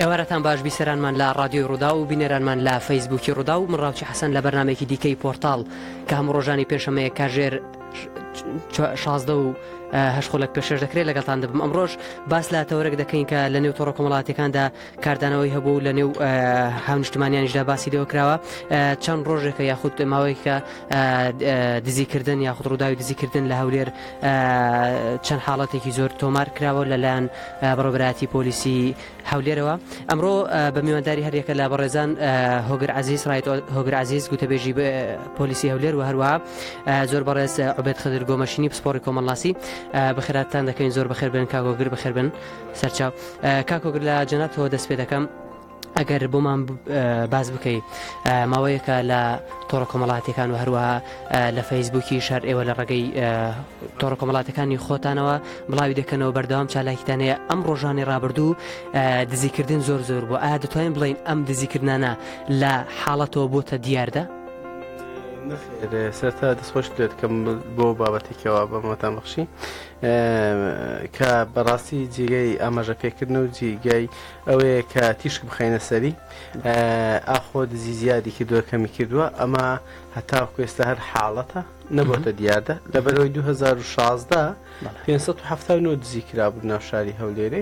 ئێوارەتان باش بیسەرانمان لە ڕادیۆی ڕوودا و بینەرانمان لە فەیسبووکی ڕوودا و مڕاوچی حەسەن لە بەرنمێکی دیکەی پۆرتال کە هەموو ڕۆژانی پێشەمەیە کاژێر شازدە و هەشخۆلک پێشش دەکرێت لەگەڵتان دەبم ئەمڕۆژ باس لە تەورێک دەکەین کە لە نێو تۆڕە کۆمەڵاتەکاندا کاردانەوەی هەبوو و لە نێو هاونیشتمانیانیشدا باسی لەوە کراوە چەند ڕۆژێکە یاخود ماوەیەکە دزیکردن یاخود ڕووداوی دزیکردن لە هەولێر چەند حاڵەتێکی زۆر تۆمار کراوە لەلایەن بەڕۆبراتی پۆلیسی هەولێرەوە ئەمڕۆ بە میوانداری هەریەکە لە بەڕێزان هۆگر عزیز ڕایت هۆگر عزیز گوتەبێژی پۆلیسی هەولێر و هەروە زۆر بەڕێز عبێت خدر گۆمەشینی پسپۆری کۆمەڵاسی بەخێراتان دەکەین زۆر بەخێر بن کاگۆگر بەخێر بن سەرچاو کاک هۆگر لە جەنابتەوە دەست پێ دەکەم ئەگەر بۆمان باز بکەیت ماوەیەکە لە تۆڕە کۆمەڵاتەکان و هەروەها لە فەیسبووکی شار ئێوە لە ڕێگەی تۆڕە کۆمەڵاتەکانی خۆتانەوە بڵاوی دەکەنەوە بەردەوام چالاکیتان هەیە ئەم ڕۆژانی ڕابردوو دزیکردن زۆر زۆر بۆ ئایا دەتوانین بڵین ئەم دزیکردانە لە حاڵەتەوە بۆتە دیاردە سەرتا دەستخۆش دێت کەم بۆ بابەتێکەوە بەمەتان بەخشی کە بەڕاستی جیگەی ئاماژە پێکردنە و جیگای ئەوەیە کە تیشک بخەینە سەری ئاخۆ دزی زیادی کردووە کەمی کردووە ئەمە هەتاو کوێستە هەر حاڵەتە نەبووتە دیاردە لەبەرەوەی 2016 579 دزی کرابوو ناوشاری هەولێرێ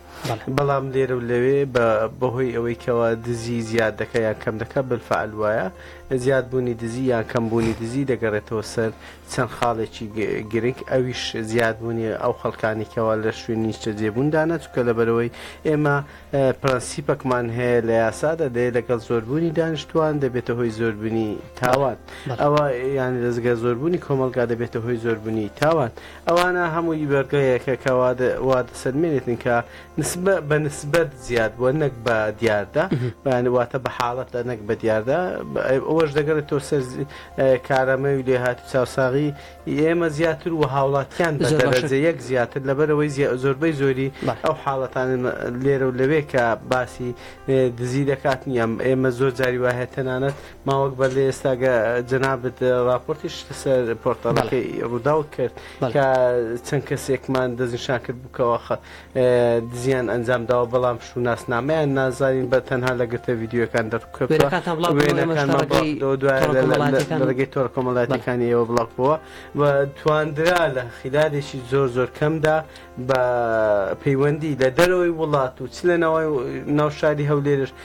بەڵام لێرە و لەوێ بەهۆی ئەوەی کەوا دزی زیاد دەکە یان کەم دەکە بالفعل وایە زیاد بوونی دزی یان کەم بوونی دزی دەگەڕێتەوە سەر چەند خاڵێکی گرنگ ئەویش زیاد بوونی ئەو خەڵکانی کەوا لە شوێنی نیشتە جێبووندانە چکە لەبەرەوەی ئێمە پرەنسیپەکمان هەیە لە یاسادا دێ لەگەڵ زۆربوونی دانیشتوان دەبێتە هۆی زۆربنی تاوان ئەوە یان دەستگە زۆربوونی کۆمەلگا دەبێتە هۆی زۆربنی تاوان ئەوانە هەمووی بە گەیەکە کە وا دەسەلمێنێتن کە نسبە بە نسبەت زیاد بووە نەک بە دیاردە بەیان واتە بە حاڵەتە نەک بە دیاردە ئەوەش دەگەڕێت تۆ سەر کارامەوی لێ هات و چاوساغی ئێمە زیاتر و هاوڵاتیان بە دەرەجە یەک زیاتر لەبەرەوەی زۆربەی زۆری ئەو حاڵەتان لێرە و لەوێ کە باسی دزی دەکات نییە ئێمە زۆر جاری وایە تەنانەت ماوەک بەر لە ئێستا گە جەنابت ڕاپۆرتیش سەر پۆرتاڵەکەی ڕووداو کرد کە چەند کەسێکمان دەستنیشان کرد بکەوە خە دزیان ئەنجام داوە بەڵام شووناس نامەیان نازانین بە تەنها لە گرتە ویددیوەکان دەربکەوە وێنەکانتان بڵاو بکەن ئێمەش وێنەکانمان بڵاو تەڕەکەی کردەوە دوای تۆڕە لە لە لە کۆمەڵاتیەکان لە ڕێگەی تۆڕە بەڵێ کۆمەڵاتیەکانی ئێوە بڵاو بووە و تواندرا لە خیلالێکی زۆر زۆر کەمدا بە پەیوەندی لە دەرەوەی وڵات و چ لە نەوەی ناو شاری هەولێرش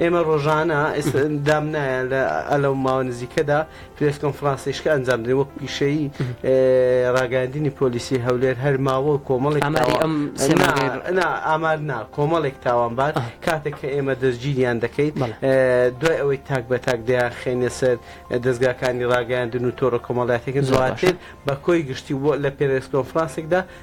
ئێمە ڕۆژانە ئێستا دام نایە لە ئە لەو ماوە نزیکەدا پرێس کۆنفرانسیشکە ئەنجام دەین وەک پیشەی ڕاگەاندنی پۆلیسی هەولێر هەر ماوە و کۆمەڵێک ئاماری ئەم سێمانەی نا ئامار نا کۆمەڵێک تاوانبار ئەه. کاتێک کە ئێمە دەستگیریان دەکەین بەڵێ دوای ئەوەی تاک بە تاک دەیانخەینە سەر دەزگاکانی ڕاگەیاندن و تۆڕە کۆمەڵاتیەکە ڕاتر بە کۆی گشتی و لە پرێس کۆنفرانسێکدا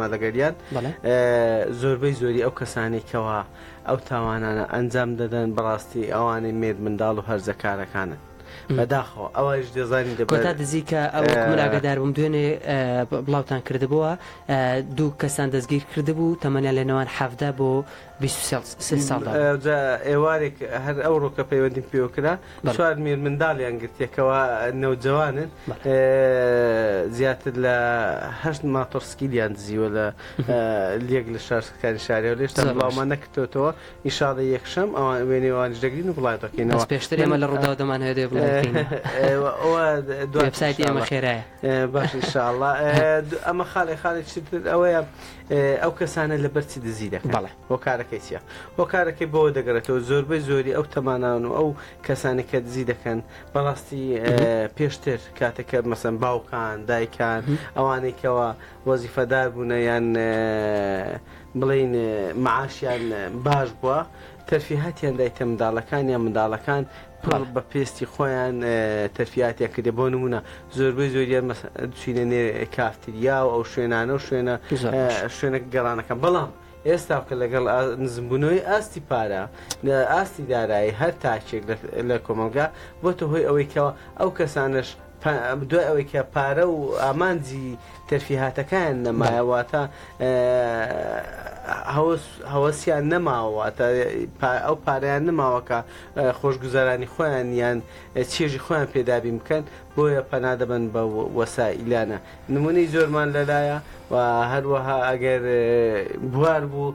مادەگەریان زۆربەی زۆری ئەو کەسانی کەەوە ئەو تاوانانە ئەنجام دەدەن بەڕاستی ئەوانەی مێد منداڵ و هەرزەکارەکانن. بەداخەوە ئەوش دەزانین دەکۆتا دزی کە ئەو مناگەدار بم دوێنێ بڵاوتان کردبووە دوو کەسان دەستگیر کردبوو تەمەنیان لە نێوان حەفدا بۆ بیست و سێ ساڵدا بوو. جا ئێوارێک هەر ئەوڕۆ کە پەیوەندیم پێوە کرا، چوار مێرمنداڵیان گرتییە کەوا نەوجەوانن، زیاتر لە هەشت ماتۆڕسکیلیان دزیوە لە یەک لە شارستکانی شاری هەولێر، هێشتا بڵاومان نەکردۆتەوە، ئینشاڵڵە یەکشەم وێنەی ئەوانیش دەگرین و بڵاوی دەکەینەوە. بەس پێشتر ئێمە لە ڕووداو دەمانەوێت بڵاوی بکەینەوە. ئەوە دوا وێبسایتی ئێمە خێرایە. باشە ان شاء اللە ئەمە خاڵێ خاڵێک چی تر ئەوەیە ئەو کەسانە لەبەرچی دزی دەکەن بەڵێ هۆکارەکەی چیە هۆکارەکەی بەوە دەگەڕێتەوە زۆربەی زۆری ئەو تەمانان و ئەو کەسانی کە دزی دەکەن بەڕاستی پێشتر کاتەکە مەسەن باوکان دایکان ئەوانەی کەەوە وەزیفەدار بوونە یان بڵین معاشیان باش بووە تەرفیهاتیان دایتە منداڵەکان یان منداڵەکان پڕ بە پێستی خۆیان تەرفیاتیان کردێ بۆ نمونە زۆربەی زۆریان چینە نێ کافتریا و ئەو شوێنانە و شوێنە شوێنە گەڕانەکە بەڵام ئێستا کە لەگەڵ نزمبوونەوەی ئاستی پارە لە ئاستی دارایی هەر تاکێک لە کۆمەلگا بۆتە هۆی ئەوەی کەەوە ئەو کەسانش دوای ئەوەی کە پارە و ئامانجی تەرفیهاتەکان نەمایە واتە هەوەسیان نەماوەواتە ئەو پارەیان نماوەکە خۆشگوزارانی خۆیان یان چێژی خۆیان پێدابین بکەن بۆیە پەنادەبن بە وەسا ئیلانە نمونەی زۆرمان لەلایە و هەروەها ئەگەر بوار بوو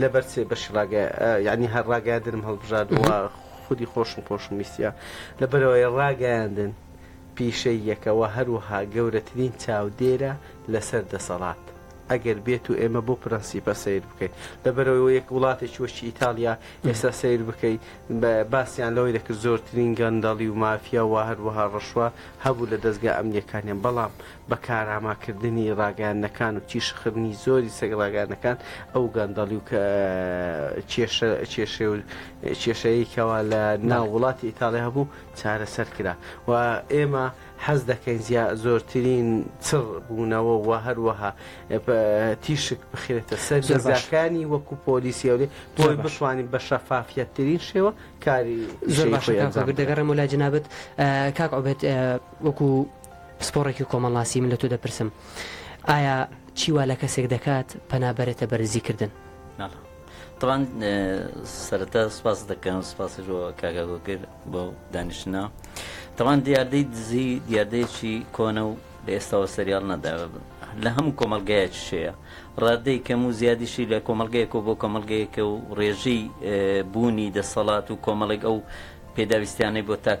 لەبەر سێ بەشی ڕاگە یعنی هەر ڕاگەاندنم هەڵبژاردووە خودی خۆشم خۆشم ویستە لەبەرەوەی ڕاگەیاندن پیشەی یەکەوە هەروەها گەورەترین چاودێرە لەسەر دەسەڵات ئەگەر بێت و ئێمە بۆ پرەنسیپە سیر بکەین لەبەرەوەی یەک وڵاتێکی وەشی ئیتالیا ئێستا سیر بکەین باسییان لەوەی دەکرد زۆرترین گەندەڵی و مافیا و هەروەها ڕەشوە هەبوو لە دەستگا ئەمنیەکانیان بەڵام بە کارامە کردنی ڕاگەیاندنەکان و تیشکخرنی زۆری سەگ ڕاگەیاندنەکان ئەو گەندەڵی و کێشە و کێشەیەی کەوا لە ناو وڵاتی ئیتاڵی هەبوو چارەسەر کرا و ئێمە حەز دەکەین زیا زۆرترین چڕ بوونەوە و هەروەها تیشک بخرێتە سەر جەزاکانی وەکو پۆلیسیەوەێ بۆی بتوانین بە شەفافیەتترین شێوە کاری زۆر باشەکان دەگەڕێمە لای جنابەت کاک عوبێت وەکو پسپۆڕێکی کۆمەڵناسی من لە تۆ دەپرسم ئایا چی وا لە کەسێک دەکات پەنا بەرێتە بەرزی کردن؟ ناڵە طبعاً سەرەتا سپاس دەکەم سپاسی بۆ کاکا گۆگر بۆ دانیشتنە طبعاً دیاردەی دزی دیاردەیەکی کۆنە و لە ئێستاوە سەریاڵ نەداوە بن لە هەموو کۆمەلگایەکی شەیە ڕادەی کەم و زیادیشی لە کۆمەلگەیەکەوە بۆ کۆمەلگەیەکە و ڕێژەی بوونی دەسەڵات و کۆمەڵێک ئەو پێداویستیانەی بۆ تاک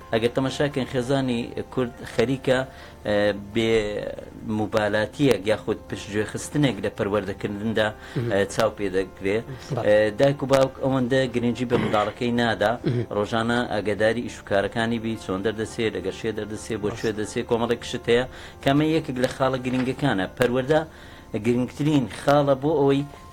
ئەگەر تەماشا کەین خێزانی کورد خەریکە بێ موبالاتیەک یاخود پشتگوێ خستنێک لە پەروەردەکردندا چاو پێ دەکرێ دایک و باوک ئەوەندە گرنگجی بە منداڵەکەی نادا ڕۆژانە ئەگەداری ئیشوکارەکانی بی چۆن دەردەچێت لەگە شێ دەردەچێت بۆ شوێ دەچێت کۆمەڵێک شت هەیە کەمە یەکێک لە خاڵە گرنگەکانە پەروەەردە گرنگترین خاڵە بۆ ئەوەی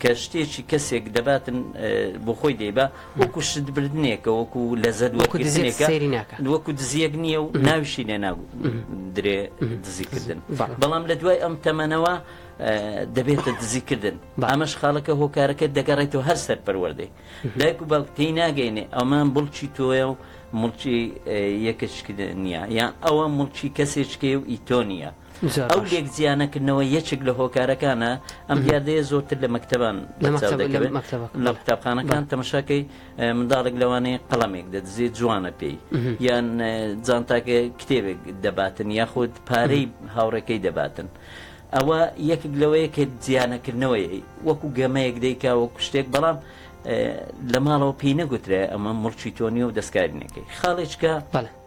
کە شتێکی کەسێک دەباتن بۆ خۆی دەیبا وەکو شت بردنێکە وەکو لەزەت وەکو دزێکە وەکو دزیەک نییە و ناویشی لێ نابوو درێ دزیکردن بەڵام لە دوای ئەم تەمەنەوە دەبێتە دزیکردن ئەمەش خاڵەکە هۆکارەکە دەگەڕێتەوە هەر سەر پەروەردەی دایک و باوک تێی ناگەینێ ئەمان بڵچی تۆە و مڵکی یەکەشکردن نییە یان ئەوە مڵکی کەسێکێ و ئیتۆنیە ئەو لێک جیانەکردنەوە یەکێک لە هۆکارەکانە، ئەم دیاردەیە زۆرتر لە مەکتەبان بەرچاو دەکەوێت، لە قوتابخانەکان تەمەشاکەی منداڵێک لەوانەیە قەڵەمێک دەدزێت جوانە پێی یان جانتاکە کتێبێک دەباتن یاخود پارەی هاوڕێکەی دەباتن. ئەوە یەکێک لەوەیە کە جیانەکردنەوەی وەکو گەمەیەک دەیکا وەکو شتێک بەڵام لە ماڵەوە پێی نەگوترێ ئەمە مڵکی تۆ نیە و دەستکاری نەکەی خاڵێچکە.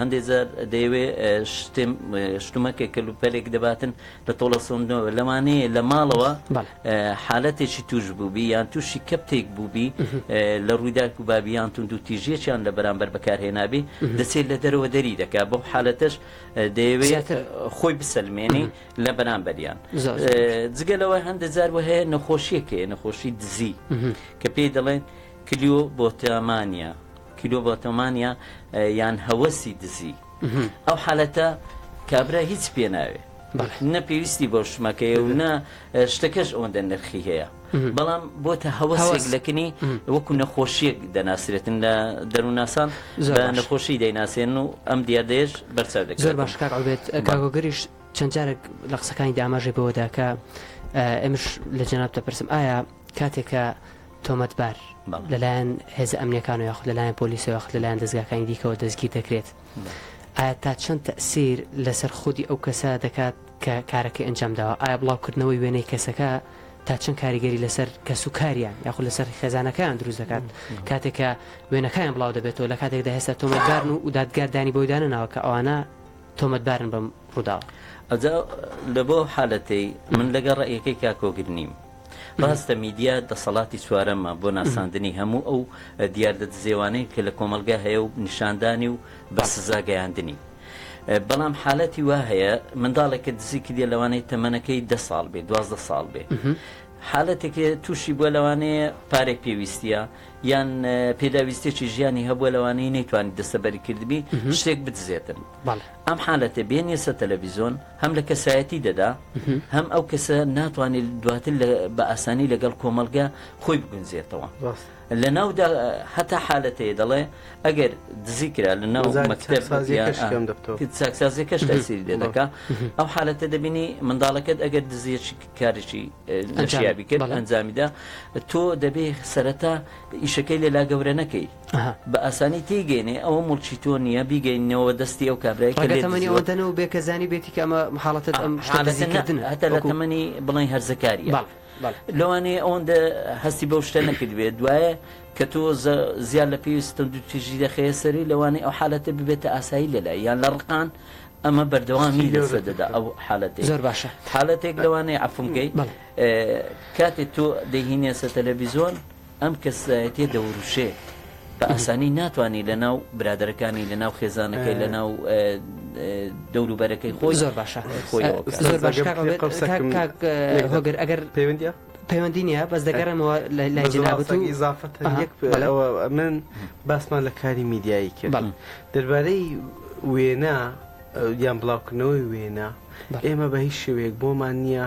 هەندێ جار دەیەوێ شتێم شتومەکێک کەلوپەلێک دەباتن لە تۆڵە سۆندنەوە لەوانەیە لە ماڵەوە حالەتێکی توش بووبی یان تووشی کەپتێک بووبی لە ڕووداک و بابیان تون دوو تیژیەکیان لە بەرامبەر بەکارهێنابی دەچێت لە دەرەوە دەری دەکات بەو حالەتەش دەیەوێت خۆی بسەلمێنی لە بەرامبەریان جگە لەوە هەندە جار وە هەیە نەخۆشیەکەیە نەخۆشی دزی کە پێی دەڵێن کلیۆ بۆتامانە کیلۆڤاتۆمانیا یان هەوەسی دزی ئەو حالەتە کابرا هیچ پێ ناوێ نە پێویستی بۆ شمەکەیە و نە شتەکەش ئەوەندە نرخی هەیە بەڵام بۆ تە هەوەسێک لەکنی وەکو نەخۆشیەک دەناسرێتن لە دەرووناسان نەخۆشی دەیناسێن و ئەم دیاردەیەش بەرچاو دەکە زۆر باش کار ئەوێت کاگۆگەریش چەند جارێک لە قسەکانی داماژێ بەوەداکە ئەمش لە جەناب دەپرسم ئایا کاتێکە تۆمەتبار لەلایەن هێزە ئەمنییەکانەوە یاخود لەلایەن پۆلیسەوە یاخود لەلایەن دەزگاکانی دیکەوە دەستگیر دەکرێت ئایا تا چەند تەسیر لەسەر خودی ئەو کەسە دەکات کە کارەکەی ئەنجام داوە ئایا بڵاوکردنەوەی وێنەی کەسەکە تا چەند کاریگەری لەسەر کەس و کاریان یاخود لەسەر خێزانەکەیان دروست دەکات کاتێکە وێنەکەیان بڵاو دەبێتەوە لە کاتێکدا هێستا تۆمەتبارن و دادگاردانی بۆی دانەناوە کە ئەوانە تۆمەتبارن بەم ڕووداوە ئەجا لە بۆ حالەتەی من لەگە ڕێیەکەی کاکۆگر نیم ڕاستە میدیا دەسەڵاتی چوارەمە بۆ ناساندنی هەموو ئەو دیاردە دزێوانەی کە لە کۆمەڵگا هەیە و نیشاندانی و بە سزا گەیاندنی. بەڵام حالەتی وا هەیە منداڵێک کە دزی کردیە لەوانەیە تەمەنەکەی دە ساڵ بێ دوازدە ساڵ بێ حالەتێکێ تووشی بووە لەوانەیە پارەی پێویستە یان پێداویستێکی ژیانی هەبووە لەوانەیە نەیتوانی دەسەبەری کردبی شتێک بدزێتن. ئەم حالەتە بێنیە سەر تەلەفیزۆن هەم لە کەسایەتی دەدا هەم ئەو کەسە ناتوانێت دواتر بە ئاسانی لەگەڵ کۆمەلگە خۆی بگونجێتەوە لە ناودا هەتا حالەتەیە دەڵێ ئەگەر دزی کرا لە ناو چاکسازی کەش تەسیری لێ دەکا ئەو حالەتە دەبینی منداڵەکەت ئەگەر دزیەکی کارێکی نشیابی کرد ئەنجامیدا تۆ دەبێ سەرەتا ئیشەکەی لێلا گەورە نەکەی بە ئاسانی تێیگەینێ ئەوە موڵکی تۆ نیە بیگەیننەوە دەستی ئەو کابرای کە لێت دزیوە. ڕەنگە تەمەنی ئەوەندە نەوبێ کە زانیبێتی کە ئەمە حاڵەتە ئەم شتە دزیکردنە. ئەها حاڵەتە نە هەتا لە تەمەنی بڵێین هەرزەکاریە. لەوانەیە ئەوەندە هەستی بەو شتە نەکردبێ دوایە کە تۆ زیاد لە پێویست توندوتیژی دەخەیە سەری لەوانەیە ئەو حالەتە ببێتە ئاسایی لەلای یان لە ڕقان ئەمە بەردەوامی لەسەر دەدا ئەو حالەتەی. زۆر باشە. حالەتێک لەوانەیە عەفوم کەی کاتێ تۆ دەیهینێسە تەلەڤیزۆن. ئەم کەسایەتیە دەوروشێ بە ئاسانی ناتوانانی لە ناو برادەرەکانی لە ناو خێزانەکەی لە ناو دەوروبەرەکەی خۆی زۆر باشە خۆی زۆر باش هۆگر ئەگەر پەیوەندە پەیوەندی نیە بەس دەگەڕێمەوە لای جنابەتی زافت من باسمان لە کاری میدیایی کرد دەربارەی وێنا یان بڵاوکردنەوەی وێنا ئێمە بە هیچ شوێک بۆمان نییە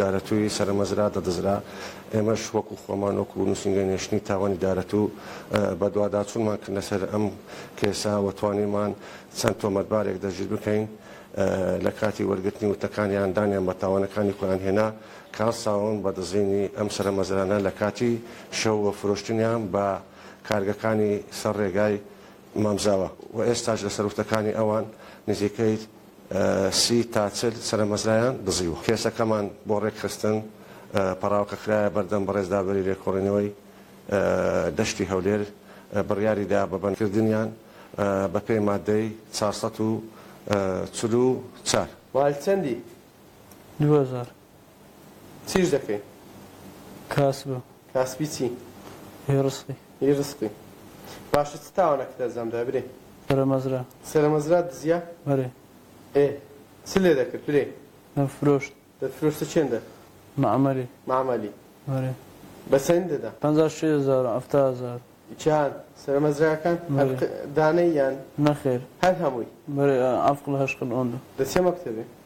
دارەتووی سەرەمەزرا دەدزرا، ئێمەش وەکو خۆمان وەکو نووسینگەی نێشتنی تاوانی دارەتوو بەدواداچوونمان کردنە سەر ئەم کەیسە و توانیمان چەند تۆمەتبارێک دەستگیر بکەین، لە کاتی وەرگرتنی وتەکانیان دانیان بە تاوانەکانی خۆیان هێنا، کاڵ ساون بە دزینی ئەم سەرەمەزرانە لە کاتی شەو و فرۆشتنیان بە کارگەکانی سەر ڕێگای مامزاوە و ئێستاش لەسەر وتەکانی ئەوان نزیکەی سی تا چل سەرەمەزرایان دزیوە. کێسەکەمان بۆ ڕێکخستن پەڕاوکە خرایە بەردەم بەڕێز دادوەری لێکۆڵینەوەی دەشتی هەولێر بڕیاری دا بە بەندکردنیان بەپێی ماددەی چوار سەد و چل و چوار. والچەندی دوو هەزار. چیش دەکەی؟ کاسبم. کاسبی چی؟ ی ڕزقی. ی ڕزقی. باشە چ تاوانەکت ئەزام دا برێ؟ سەرە مەزرا. سەرە مەزرات دزیا؟ بەرێ. ئێ چ لێ دەکرد برێ؟ دەم فرۆشت. دەت فرۆشتە چێندە؟ مەعمەلی. مەعمەلی. بەرێ. بە چەند دەدا؟ پەنجا و شەش هەزار و حەفتا هەزار. چان؟ سەرە مەزراکان؟ هەر دانەی یان؟ نەخێر. هەر هەمووی؟ بەرێ ئەفقل هەشقل ئۆندە. دە چە مەکتەبێ؟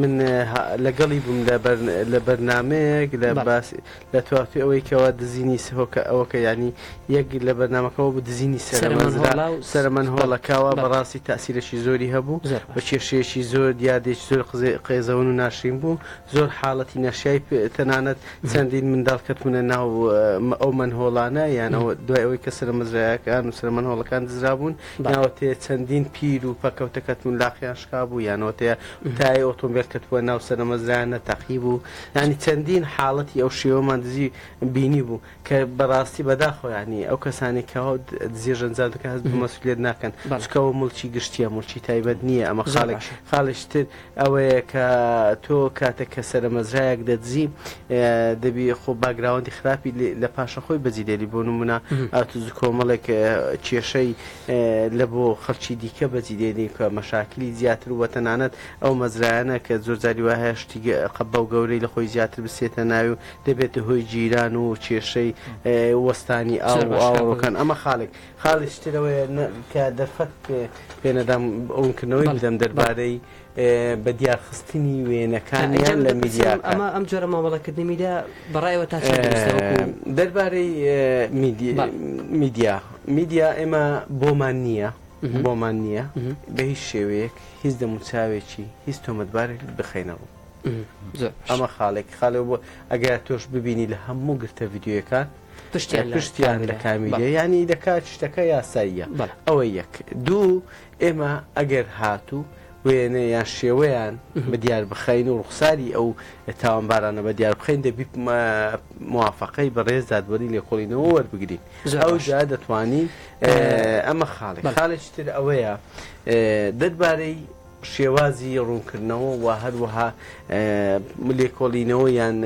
من لەگەڵی بووم لە بەرنامەیەک لە باسی لە تواقی ئەوەی کەوا دزینی سهۆکە ئەوەکە ینی یەک لە بەرنمەکەەوە بە دزینی سەرمەزرا سەرمەن هۆڵەکەوە بەڕاستی تاسیرەشی زۆری هەبوو بە کێشەیەکی زۆر دیادێک زۆر قزێ قێزەون و ناشرین بوو زۆر حاڵەتی نەشای تەنانەت چەندین منداڵ کەتونە ناو ئەو من هۆڵانە یانەوە دوای ئەوەی کە سەرمەزرایەکان و سەرمەن هۆڵەکان دزرابوون ناوەتەیە چەندین پیر و پەکەوتە کەتبوون لاقیان شکابوو یان ناوەتەیە تایەی ئۆتۆمبێل کەتبووە ناو سەرەمەزرایان نەتەقیبوو یانی چەندین حاڵەتی ئەو شێوەمان دزی بینیبوو کە بەڕاستی بەداخەوە یانی ئەو کەسانەی کە دزیش ئەنجام دەکەن هەست بە مەسئولیەت ناکەن چونکە ئەوە موڵکی گشتییە موڵکی تایبەت نییە ئەمە خاڵێک خاڵیش تر ئەوەیە کە تۆ کاتێک کە سەرەمەزرایەک دەدزی دەبی خۆ باگراوەندی خراپی لە پاشە خۆی بەجی دێری بۆ نمونە ئاتوز کۆمەڵێک کێشەی لە بۆ خەڵکی دیکە بەجی دێنی کە مەشاکلی زیاتر وە تەنانەت ئەو مەزرایانە کە زۆرجاری وە هەشتی قەبە و گەورەی لە خۆی زیاتر بسێتە ناوی و دەبێتە هۆی جیران و کێشەی وەستانی ئاوڕۆکان ئەمە خاڵێک خاڵیکی تر ئەوەیە کە دەرفەت پێ نەدام ڕوونکردنەوەی بدەم دەربارەی بەدیارخستنی وێنەکانیان لە میدیاکان. ئەمە ئەم جۆرە مامەڵەکردنی میدیا بە ڕای ئێوە تا چەند دروستە وەکوو؟ دەربارەی میدیا، میدیا ئێمە بۆمان نییە، بۆمان نییە بە هیچ شێوەیەک هیچ دەموچاوێکی هیچ تۆمەتبارێک بخەینە ڕوو. ئەمە خاڵێک خاڵێ بۆ ئەگەر تۆش ببینی لە هەموو گرتە ڤیدیۆیەکان، پشتیان لە کامیدە ینی دەکات شتەکە یاساییە ئەوە یەک دوو ئێمە ئەگەر هاتوو وێنە یان شێوەیان بە دیار بخین و ڕوخساری ئەو تاوانبارانە بە دیار بخین دەبی موواافقەی بەڕێز دادوەری لێکۆڵینەوە وەربگرین ئەو جا دەتوانین ئەمە خاڵی خاڵێکی تر ئەوەیە دەربارەی شێوازی ڕوونکردنەوە و هەروەها لێکۆڵینەوە یان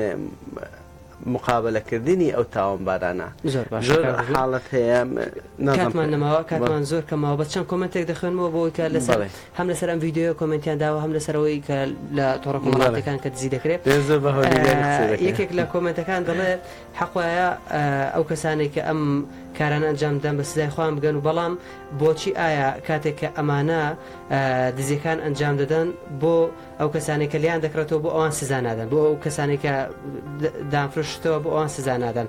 مقابەلە کردنی ئەو تاوانبارانە زۆر باشە کاک ژیر زۆر حاڵەت هەیە نازانم کاتمان نەماوە کاتمان زۆر کەمە بەس چەند کۆمێنتێک دەخوێنمەوە بۆ ئەوەی کە لەسەر بەڵێ هەم لەسەر ئەم ڤیدیۆیە کۆمێنتیان داوە هەم لەسەر ئەوەی کە لە تۆڕە بەڵێ کۆمەڵاتیەکان کە دزی دەکرێ دەیە زۆر بە هەولێریانی قسە ئە دەکەی یەکێک لە کۆمێنتەکان دەڵێ حەق وایە ئە ئەو کەسانەی کە ئەم کارانە ئەنجام دەدەن بە سزای خۆیان بگەن و بەڵام بۆچی ئایا کاتێک کە ئەمانە ئە دزیەکان ئەنجام دەدەن بۆ ئەو کەسانەی کە لێیان دەکڕێتەوە بۆ ئەوان سزا نادەن بۆ ئەو کەسانەی کە دامفرشتەوە بۆ ئەوان سزا نادەن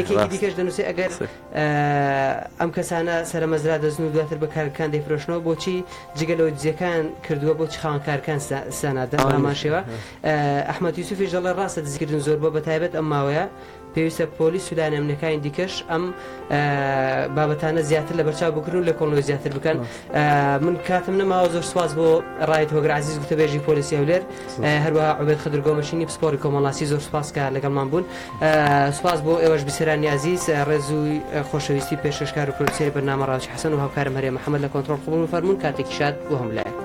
یەکێکی دیکەش دەنووسی ئەگەر ئەم کەسانە سەرمەزرا دەزن و دواتر بە کارگەکان دەیفرۆشنەوە بۆچی جگە لەوە دزیەکان کردووە بۆ چخاوەنکارکان سزانادەن ئاماشەوە ئەحمەد یوسفیش دەڵێ ڕاستە دزیکردن زۆر بۆ بە تایبەت ئەم ماوەیە پێویستە پۆلیس و لایەنە ئەمنیەکانی دیکەش ئەم بابەتانە زیاتر لە بەرچاو بکرن و لە کۆڵۆی زیاتر بکەن من کاتم نەماوە زۆر سواز بۆ ڕایت هۆگرازیز گوتەبێژی پۆلیسی هەولێر هەروە عوبێت خدر گۆمەشینی پسپۆری کۆمەڵاسی زۆر سوپاسکە لەگەڵمان بوون سوپاس بۆ ئێوەش بسرانی عزیز ڕێزووی خۆشەویستی پێشکەشکار و پرۆسیری بەنامە ڕاوچ حەسەن و هاوکارم هەرێ محەممەد لە کۆنتترۆل قبول و فەرمونون کاتێکی شاد بۆ هەم لایە